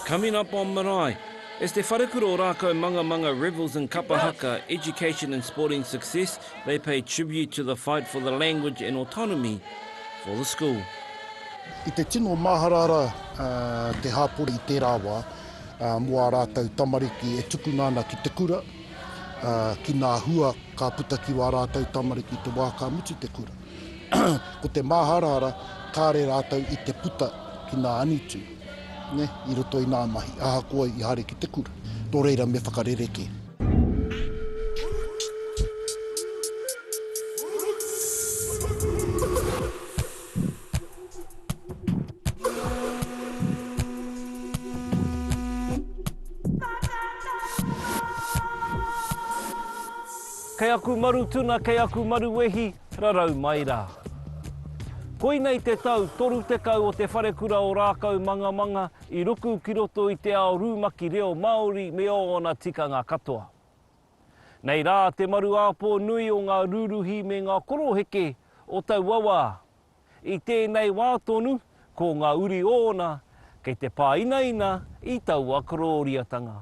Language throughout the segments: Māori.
Coming up on Marae, it's Te Wharekura o Rākau Mangamanga revels in Kapa Haka, education and sporting success, they pay tribute to the fight for the language and autonomy for the school. I te tino māharahara te hapori i tērā wā mō ā rātou tamariki e tukuna ana ki te kura, ki ngā hua ka puta ki wā rātou tamariki i te wā ka mutu te kura. Ko te māharahara, kāre rātou i te puta ki nā angitu, nē, i roto i nā mahi, ahakoa i haere ki te kura. Nō reira me whakarerekē. Kei aku maru tuna, kei aku maru wehi. Rarau mai rā. Koinei te tau 30 o Te Wharekura o Rākaumangamanga i ruku ki roto i te ao rūmaki reo Māori me ōna tikanga katoa. Nei rā te maru āpō nui o ngā rūruhi me ngā koroheke o taua wā. I tēnei wā tonu, ko ngā uri ōna kei te pāinaina i taua korōriatanga.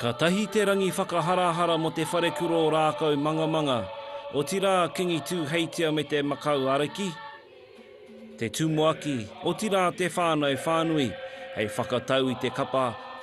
Ka tahi te rangi whakaharahara mo te wharekuro rākau mangamanga, otirā kingi Tūheitia me te makau ariki, te tumuaki, otirā te whānau whānui, hei whakatau i te kapa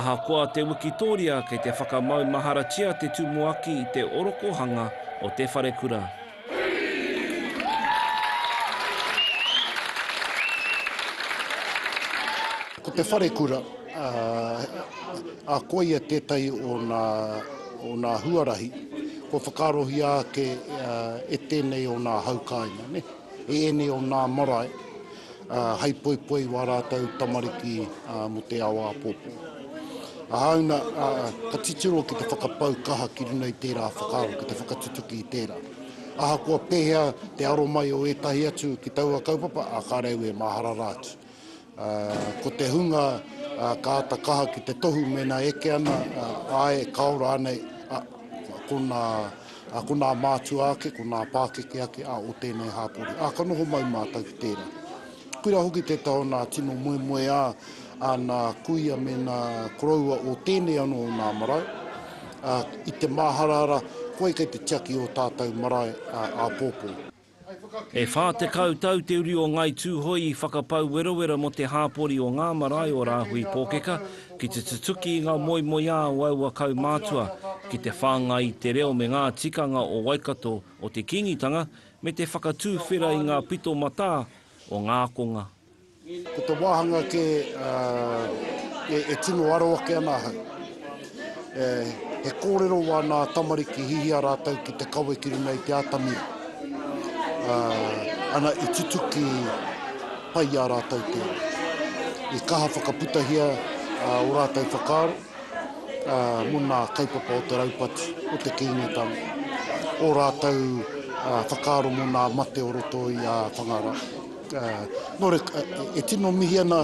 Ahakoa te wikitoria kei te whakamau maharatia te tumuaki i te orokohanga o te wharekura. Ko te wharekura a koia tētahi o ngā. o nā huarahi, kua whakaarohia ake e tēnei o nā hau kāinga, nē, e ēnei o nā marae, hei poipoi i wā rātou tamariki mō te ao āpōpō. Āuna, ka titiro ki te whakapau kaha ki runga i tērā whakaaro, ki te whakatutuki i tērā. Ahakoa pēhea te aro mai o ētahi atu ki taua kaupapa, ā, ka reu e mahara rā atu. Ko te hunga ka ata kaha ki te tohu mēnā eke ana, āe, ka ora anei konā mātua ake, konā pākeke ake o tēnei hāpori. Ā, ka noho mai mātou ki tērā. Koirā hoki te taha o nā tino moemoeā a nā kuia me nā koroua o tēnei anō o nā marae, ā, i te māharahara, koe kei te tiaki i ō tātou marae āpōpō. E 40 tau te uri o Ngāi Tūhoe i whakapau werawera mō te hāpori o ngā marae o Rāhui Pōkeka ki te tutuki i ngā moemoeā o aua kaumātua ki te whāngai i te reo me ngā tikanga o Waikato o te Kīngitanga me te whakatūwhera i ngā pito matā o ngā ākonga Ko te wāhanga kē e tino aro ake ana ahau, he kōrero wā nā tamariki hihia rātou ki te kawe ki runga i te atamira, ana i tutuki pai i a rātou tēnei. I kaha whakaputahia ō rātou whakaaro mō nā kaupapa o te raupatu, o te Kīngitanga, ō rātou whakaaro mō nā mate o roto i a Whangarā. Nō reira, e tino mihi ana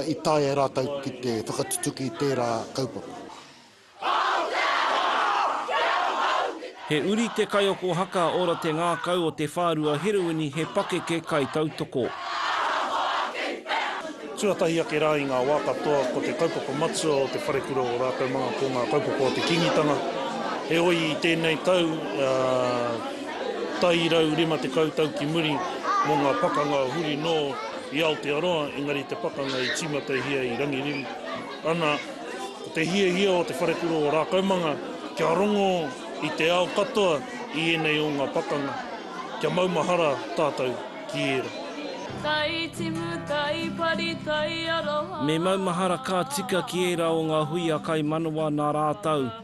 i taea e rātou ki te whakatutuki i tērā kaupapa. He uri te kaiako haka ora te ngākau o te whārua heroini he pakeke kaitautoko. Tuatahi ake rā i ngā wā katoa ko te kaupapa matua o te wharekura o rātou manga ko ngā kaupapa o te Kīngitanga. Heoi i tēnei tau, Tairau rima tekau tau ki muri mō ngā pakanga huri nō i Aotearoa, engari te pakanga i tīmatahia i Rangiriri. Ana, ko te hiahia o te Wharekura o Rākaumanga kia rongo i te ao katoa i ēnei o ngā pakanga, kia maumahara tātou ki ērā. Tai timu, tai pari, tai aroha. Me maumahara ka tika ki ērā o ngā hui a Kaimanawa nā rātou.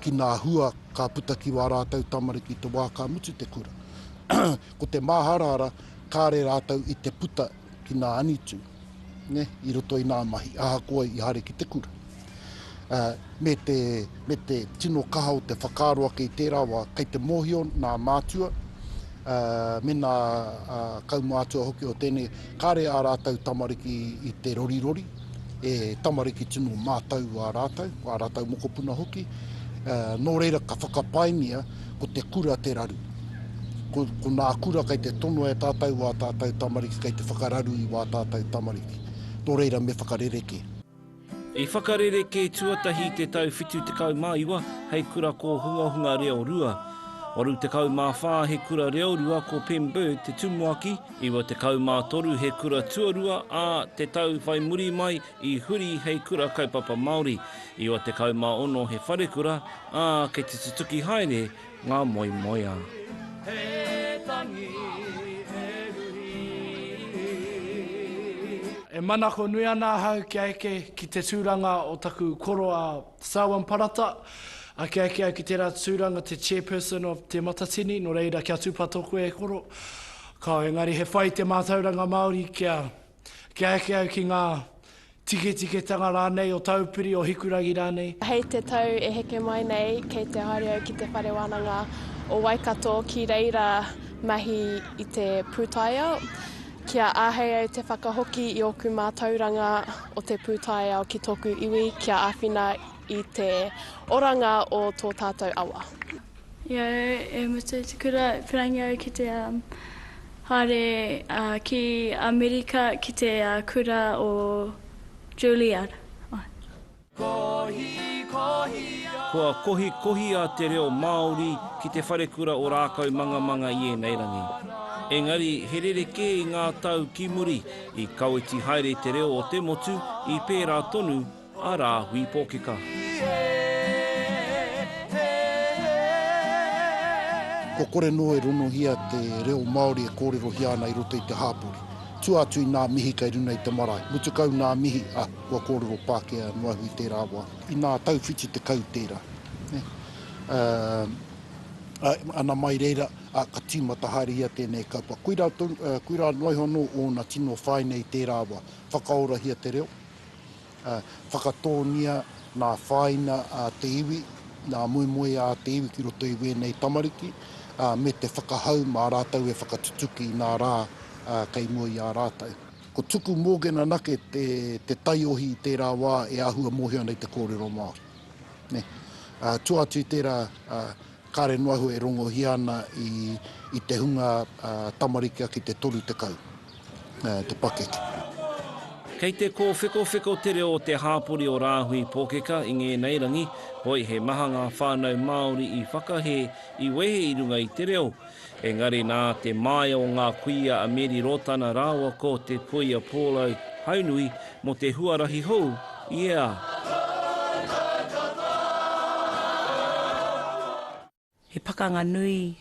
ki ngā hua ka puta ki wā rātou tamariki te wā ka mutu te kura. Ko te māharahara, kāre rātou i te puta ki ngā angitu, ne, i roto i ngā mahi, ahakoa i haere ki te kura. Uh, me, te, me te tino kaha o te whakaaro ake i tērā wā, kei te mōhio nā mātua, uh, me nā uh, kaumātua hoki o tēnei, kāre ā rātou tamariki i te rorirori, e tamariki tino mātau wā rātau, wā rātau mokopuna hoki, nō reira ka whakapaingia ko te kura te raru. Ko, ko nā kura kei te tono e tātau wā tātau tamariki, kei te whakararu i wā tātau tamariki. Nō reira me whakarerekē. I whakarerekē tuatahi i te tau 79 hei kura kōhungahunga reo rua. 84 he kura reo rua ko Pem Bird te tumuaki, 93 he kura tuarua, ā, te tau whai muri mai i huri hei kura kaupapa Māori, 96 he wharekura, ā, kei te tutuki haere ngā moemoeā. E manako nui ana ahau kia eke ki te tūranga o taku koroa Sawan Parata, Ake ake au ki tērā tūranga te Chairperson of Te Matatini, nō reira kia tūpato koe e koro. Kāo, engari he whai te mātauranga Māori kia, kia eke au ki ngā tiketiketanga rānei o Taupiri, o Hikurangi rānei. Hei te tau e heke mai nei kei te haere au ki te Whare Wānanga o Waikato ki reira mahi i te pūtaiao. Kia āhei au te whakahoki i ōku mātauranga o te pūtaiao ki tōku iwi kia āwhina i te oranga o tō tātou awa. I a au e mutu i te kura, i perangi au ki te um, haere uh, ki Amerika ki te uh, kura o Juilliard. Kua kohikohia te reo Māori ki te wharekura o Rākaumangamanga i ēnei rangi. Engari, he rerekē i ngā tau ki muri, i kaweti haere te reo o te motu i pērā tonu a Rāhui Pōkeka. Kua kore noa e ronohia te reo Māori e kōrerohia ana i roto i te hāpori. Tua atu i nā mihi kei runa i te marae. Mutu kau nā mihi a. Kua kōrero Pākehā noahu i tērā wā. Inā tauwhiti tekau tērā. Ana mai reira, ka tīmata haere ia tēnei kaupapa. Koirā, koirā noaiho anō ōna tino whaina i tērā wā. Whakaorahia te reo, whakatōngia nā whāina a te iwi, nā moemoeā a te iwi ki roto i wēnei tamariki, me te whakahau mā rātou e whakatutuki i nā rā kei mua i a rātou. Ko Tuku Morgan anake te taiohi i tērā wā e āhua mōhio ana i te kōrero Māori. Tua atu i tērā, kāre noa iho e rongohia ana i te hunga tamariki ake i te 30 te pakeke. Kei te kōwhekowheko te reo o te hāpori o Rāhui Pōkeka i ngēnei rangi, hoi he maha ngā whānau Māori i whakahē, i wehe i runga i te reo, Engari nā te māia o ngā kuia a Meri Rotana rāua ko te puia Pōlau Haunui mō te huarahi hou i ea. He pakanga nui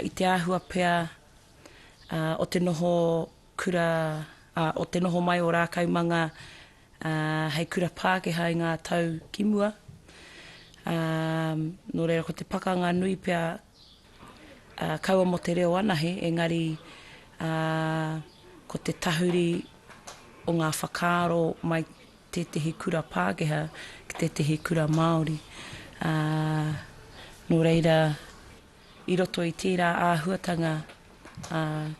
i te āhua pea o te noho kura, o te noho mai o Rākaumanga hei kura Pākehā i ngā tau ki mua. Nō reira ko te pakanga nui pea Kaua mō te reo anahe, engari ko te tahuri o ngā whakaaro mai tētehi kura Pākehā ki tētehi kura Māori. Nō reira, i roto i tērā āhuatanga,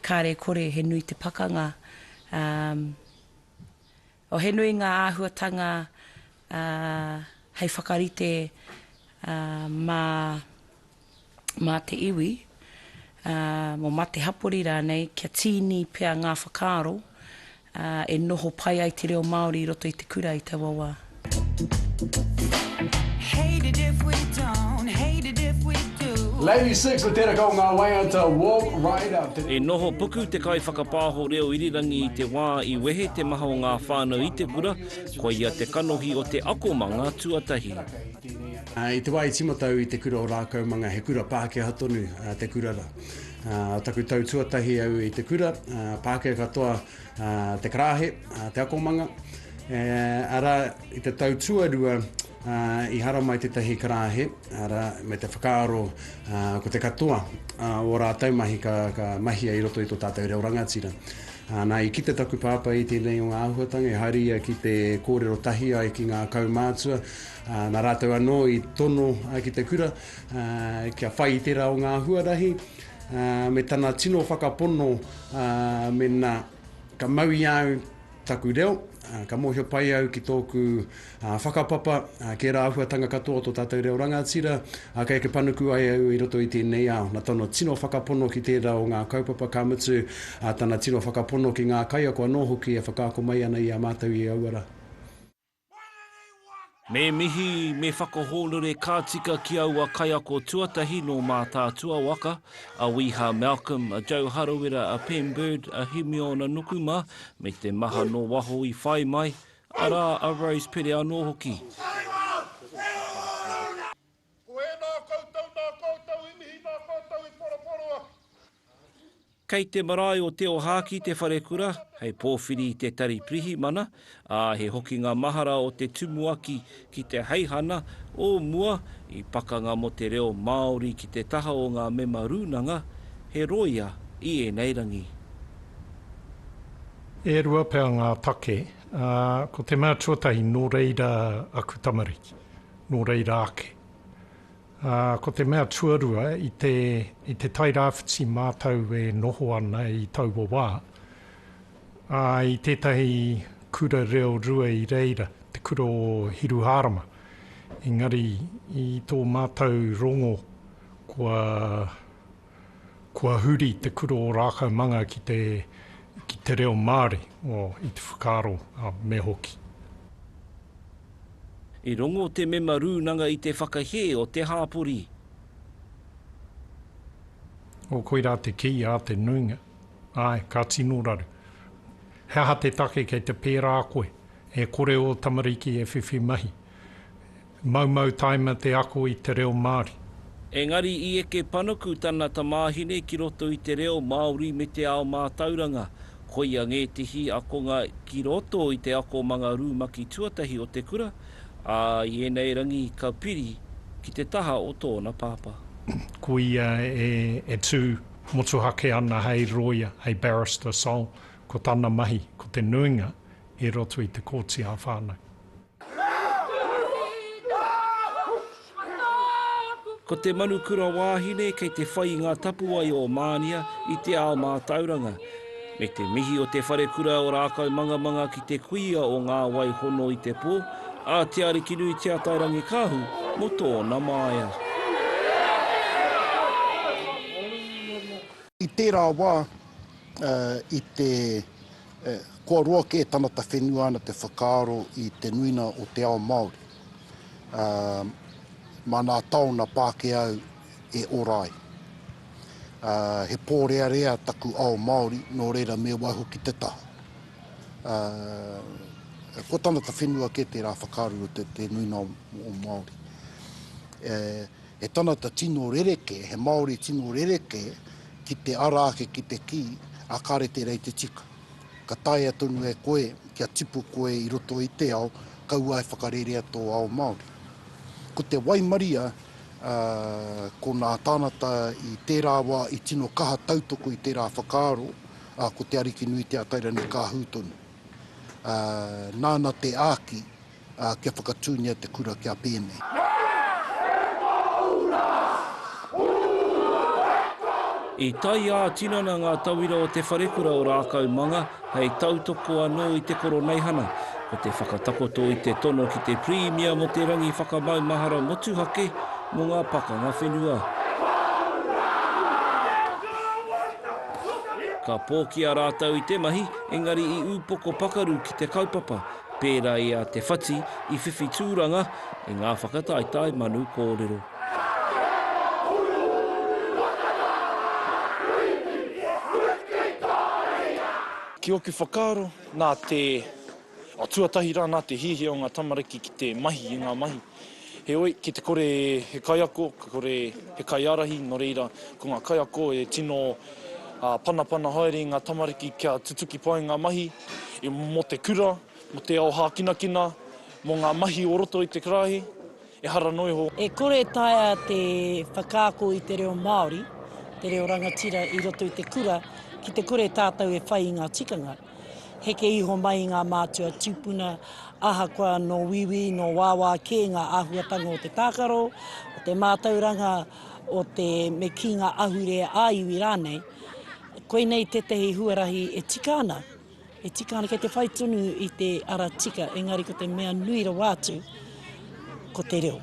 kāre e kore he nui te pakanga, Oh, he nui ngā āhuatanga hei whakarite mā te iwi, mā te hapori rānei, kia tīni pea ngā whakaaro e noho pai ai te reo Māori i roto i te kura i taua wā. Lady Six, ko tēraka o ngā waiata Walk Right Up. He noho puku te kaiwhakapāho reo irirangi i te wā i. I wehe te maha o ngā whānau i te kura, koia te kanohi o te akomanga tuatahi. I te wā i tīmata au i te kura o Rākaumanga, he kura Pākehā tonu te kura rā. O taku tau tuatahi au i te kura, Pākehā katoa te karāhe, te akomanga, arā, i te tau tuarua, I haramai tētahi karāhe, arā, me te whakaaro ko te katoa o ō rātou mahi ka mahia i roto i tō tātou reo rangatira. Nā, i kite taku pāpā i tēnei o ngā āhuatanga, i haere ia ki te kōrero tahi ai ki ngā kaumātua, nā rātou anō i tono ki te kura kia whai i tērā o ngā huarahi, me tana tino whakapono mēnā ka mau i a au, Taku reo, ka mōhio pai au ki tōku whakapapa, kē rā āhuatanga katoa o tō tātou reo rangatira, ā, kei ake panuku ai au i roto i tēnei ao. Nā tana tino whakapono ki tērā o ngā kaupapa, ka mutu, tana tino whakapono ki ngā kaiako anō hoki e whakaako mai ana i a mātou i aua rā. Me mihi, me whakahōnore ka tika ki aua kaiako tuatahi nō Mātaatua waka, a Wiha Malcolm, a Joe Harawira, a Pem Bird, a Himiona Nuku mā, me te maha nō waho i whai mai, arā, a Rose Pere anō hoki. Ko ēnā koutou nā koutou i mihi nā koutou i poroporo atu. Kei te marae o Te Ohaki te wharekura, hei pōwhiri i te tari pirihimana, ā, he hokinga mahara o te tumuaki ki te heihana o mua i Pakanga mō te Reo Māori ki te taha o ngā mema rūnanga, he rōia i ēnei rangi. E rua pea ngā take, ā, ko te mea tuatahi nō reira aku tamariki. nō reira ake. Ā, ko te mea tuarua, i te, i te Tairāwhiti mātou e noho ana i taua wā, ā, i tētahi kura reo rua i reira, te kura o Hiruhārama. Engari, i tō mātou rongo, kua. Kua huri te kura o Rākaumanga ki te ki te reo Māori, o, i te whakaaro, a, me hoki. I rongo te mema rūnanga i te whakahē o te hāpori. O, koirā te kī a te nuinga. Āe, ka tino raru. He aha te take kei te pērā koe? E kore ō tamariki e whiwhi mahi. Maumau taima te ako i te reo Māori. Engari i eke panuku tana tamāhine ki roto i te reo Māori me te ao mātauranga. Koia ngētehi akonga ki roto i te akomanga rumaki tuatahi o te kura, ā, i ēnei rangi ka piri ki te taha o tōna pāpā. Ko ia e tū motuhake ana hei rōia, hei barrister sole, ko tana mahi ko te nuinga i roto i te Kōti ā-Whānau. Ko te Manukura Wāhine kei te whai i ngā tapuwae o Mānia i te ao mātauranga. Me te mihi o Te Wharekura o Rākaumangamanga ki te kuia o Ngā Wai Hono i te Pō, a Te Arikinui Te Atairangikaahu mō tōna māia. I tērā wā, i te. E, kua roa kē tana ta whenua ana te whakaaro i te nuina o te ao Māori. Ā, mā nā taona Pākēau e ora ai. Ā, he pōrearea taku ao Māori, nō reira me waihoki te taha. Ā, kua tana ta whenua kē tērā whakaaro i roto i te nuina o Māori. E, He tangata tino rerekē, he Māori tino rerekē ki te ara ake ki te kī, ā, kāre tērā i te tika. Ka taea tonu e koe kia tipu koe i roto i te ao, kaua e whakarerea tō ao Māori. Ko te waimaria, ā, ko nā tāngata i tērā wā i tino kaha tautoko i tērā whakaaro, ā, ko Te Arikinui Te Atairangikaahu tonu. Ā, nāna te āki ā, kia whakatūngia te kura kia pēnei. I tae ā-tinana ngā tauira o Te Wharekura o Rākaumanga hei tautoko anō i te Koroneihana, ko te whakatakoto i te tono ki te Pirimia mō te rangi whakamaumahara motuhake mō ngā pakanga whenua. Ka pōkia rātou i te mahi, engari i upoko pakaru ki te kaupapa, Pērā i a Te Whati i whiwhi tūranga i ngā whakataetae manu kōrero. Ki ōku whakaaro, nā te, tuatahi rā nā te hiahia o ngā tamariki ki te mahi i ngā mahi. Heoi, ki te kore he kaiako, ka kore he kaiārahi, nō reira, ko ngā kaiako e tino panapana haere i ngā tamariki kia tutuki pai ngā mahi mō te kura, mō te ao hākinakina, mō ngā mahi o roto i te karāhe, ehara noa iho. E kore e taea te whakaako i te reo Māori, te reo rangatira i roto i te kura, ki te kore tātou e whai i ngā tikanga. Heke iho mai ngā mātua tūpuna, ahakoa nō wīwī, nō wāwā kē ngā āhuatanga o te tākaro, o te mātauranga, o te me kī ngā ahure ā-iwi rānei. Koinei tētahi huarahi e tika ana, e tika ana kei te whai tonu i te ara tika, engari ko te mea nui rawa atu, Ko te reo.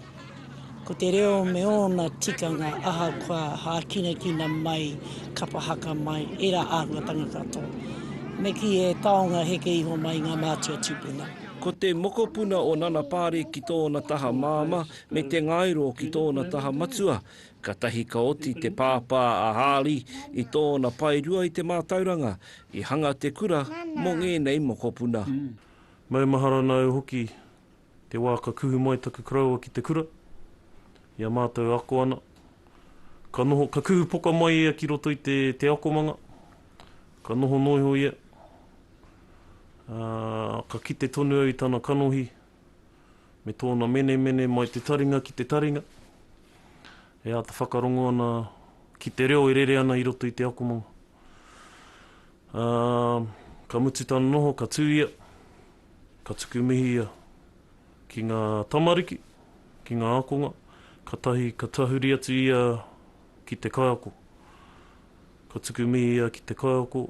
Ko te reo me ōna tikanga ahakoa hākinakina mai, kapa haka mai, ērā āhuatanga katoa. Me kī he taonga heke iho mai i ngā mātua tūpuna. Ko te mokopuna o Nana Paare ki tōna taha māmā me te ngairo ki tōna taha matua. Katahi ka oti te pāpā a Haali i tōna paerua i te mātauranga, i hanga te kura mō ngēnei mokopuna. Maumahara nāu hoki Te wā ka kuhu mai taku koroua ki te kura, i a mātou e ako ana, ka noho, ka kuhu poka mai ia ki roto i te, te akomanga, ka noho noa iho ia, ā, ka kite tonu au i tana kanohi, me tōna menemene mai te taringa ki te taringa, e āta whakarongo ana ki te reo e rere ana i roto i te akomanga. Ā, ka mutu tana noho, ka tū ia, Ka tuku mihi ia ki ngā tamariki, ki ngā ākonga, kātahi ka tahuri atu ia ki te kaiako. Ka tuku mihi ia ki te kaiako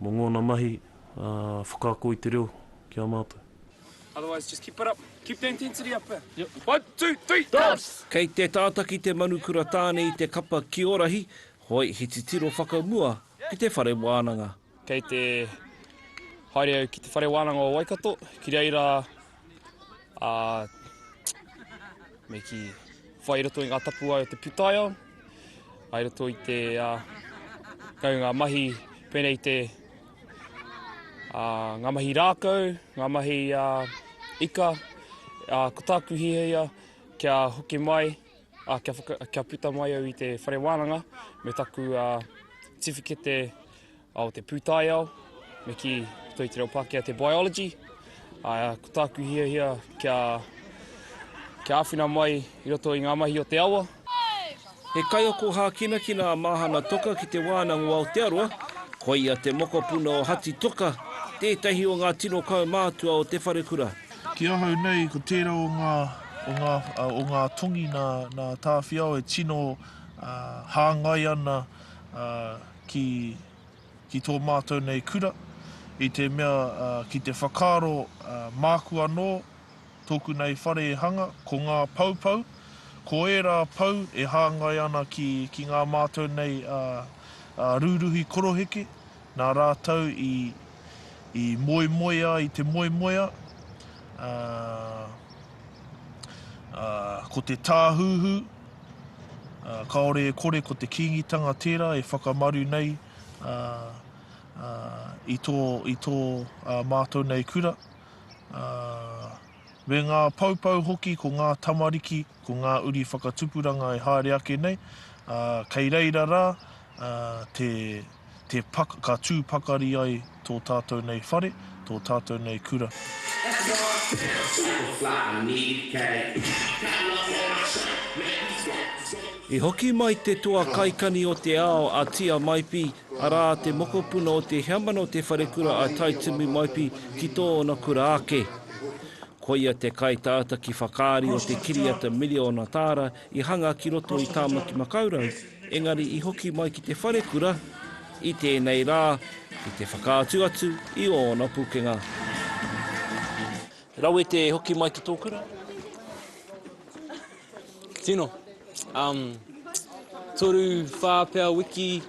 mō ngōna mahi whakaako i te reo ki a mātou. Otherwise just keep it up, keep the intensity up there. Yep. One, two, three, dance! Kei te tātaki te Manukura Tāne i te kapa Kiorahi, hoi he titiro whakamua ki te whare wānanga. Kei te haere au ki te whare wānanga o Waikato, ki reira a me ki whai roto i ngā tapuwae o te putaia, ai roto i te uh, kau ngā mahi pēnei te uh, ngā mahi rākau, ngā mahi uh, ika, uh, ko tāku hihia kia hoki mai Ā, kia, whaka, kia puta mai au i te whare wānanga me taku uh, tiwhikete o te pūtaiao, me ki toi te reo Pākehā te biology. Ā, ko tāku hiahia kia, kia āwhina mai i roto i ngā mahi o te awa. He kaiako hākinakina a Māhana Toka ki Te Wānanga o Aotearoa, koia te mokopuna o Hati Toka, tētahi o ngā tino kaumātua o te wharekura. Ki ahau nei, ko tērā o ngā, o ngā, o ngā tongi nā, nā Tāwhiao e tino hāngai ana ki, ki tō mātou nei kura, i te mea ki te whakaaro māku anō, tōku nei whare e hanga, ko ngā poupou, ko ērā pou e hāngai ana ki, ki ngā mātou nei rūruhi koroheke, nā rātou i, i moemoea i te moemoea, ā, ā, ko te tāhuhu, ā, kāore e kore ko te Kīngitanga tērā e whakamaru nei ā, ā, i tō, i tō ā mātou nei kura, ā, me ngā poupou hoki ko ngā tamariki, ko ngā uri whakatupuranga e haere ake nei, ā, kei reira rā ā, te, Te pak, ka tū pakari ai tō tātou nei whare, tō tātou nei kura. That's why I pay a super fly, I need cash, I got love for my shirt, man these rappers don't. I hoki mai te toa kaikani o te ao a Tia Maipi, arā te mokopuna o Te Heamana o Te Wharekura a Taitumu Maipi ki tōna kura ake. Koia te kaitautaki whakaari o te kiriata miriona tāra i hanga ki roto i Tāmaki Makaurau, engari i hoki mai ki te wharekura i tēnei rā ki te whakaatu atu i ōna pukenga. Rawe te hoki mai ki tō kura? Tino. Um, toru, whā pea wiki.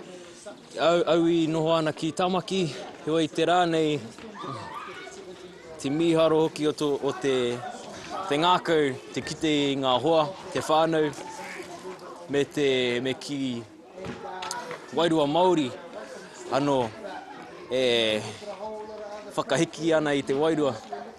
Au i noho ana ki Tamaki, heoi te rā nei te mīharo hoki o te ngākau te kite i ngā hoa, te whānau me te me ki wairua Māori anō e whakahiki ana i te wairua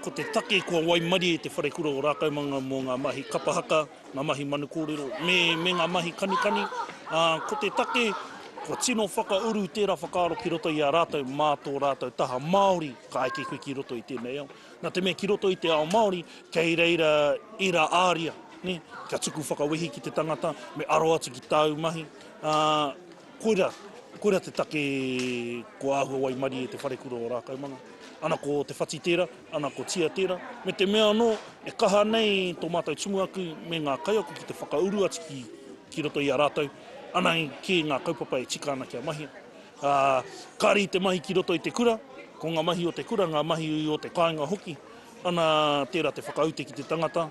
Ko te take kua waimarie te wharekura o Rākaumanga mō ngā mahi kapa haka, ngā mahi manu kōrero me, me ngā mahi kanikani, ā, ko te take kua tino whakauru tērā whakaaro ki roto i a rātou mā tō rātou taha Māori ka eke koe ki roto i tēnei ao. Nā te mea ki roto i te ao Māori, kei reira ērā āria, nē, kia tuku whakawehi ki te tangata, me aro atu ki tāu mahi, ā, Koira, koira te take ko Ahua Waimarie te wharekura o Rākaumanga. Ana ko Te Whati tēra, ana ko Tia tēra, me te mea anō, e kaha nei tō mātou tumuaki me ngā kaiako ki te whakauru atu ki, ki roto i a rātou, ana kē ngā kaupapa e tika ana kia mahia. Ā, kāre i te mahi ki roto i te kura, ko ngā mahi o te kura, ngā mahi o te kāinga hoki, ana tēra te whakaute ki te tangata,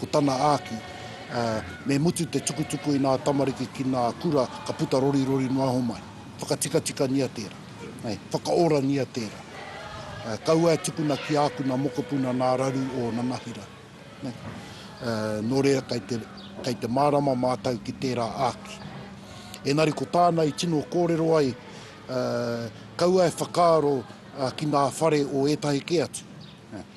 ko tana āki, ā, me mutu te tukutuku i nā tamariki ki nā kura ka puta rorirori noa iho mai. Whakatikatikania tērā. Whakaorangia tērā. Ā, kaua e tukuna ki ākuna mokopuna nā raru o Nanahira. Ā, nō reira kei te, kei te mārama mātou ki tērā āki. Engari ko tāna i tino kōrero ai, ā, kaua e whakaaro, ā, ki nā whare o ētahi kē atu. Ā.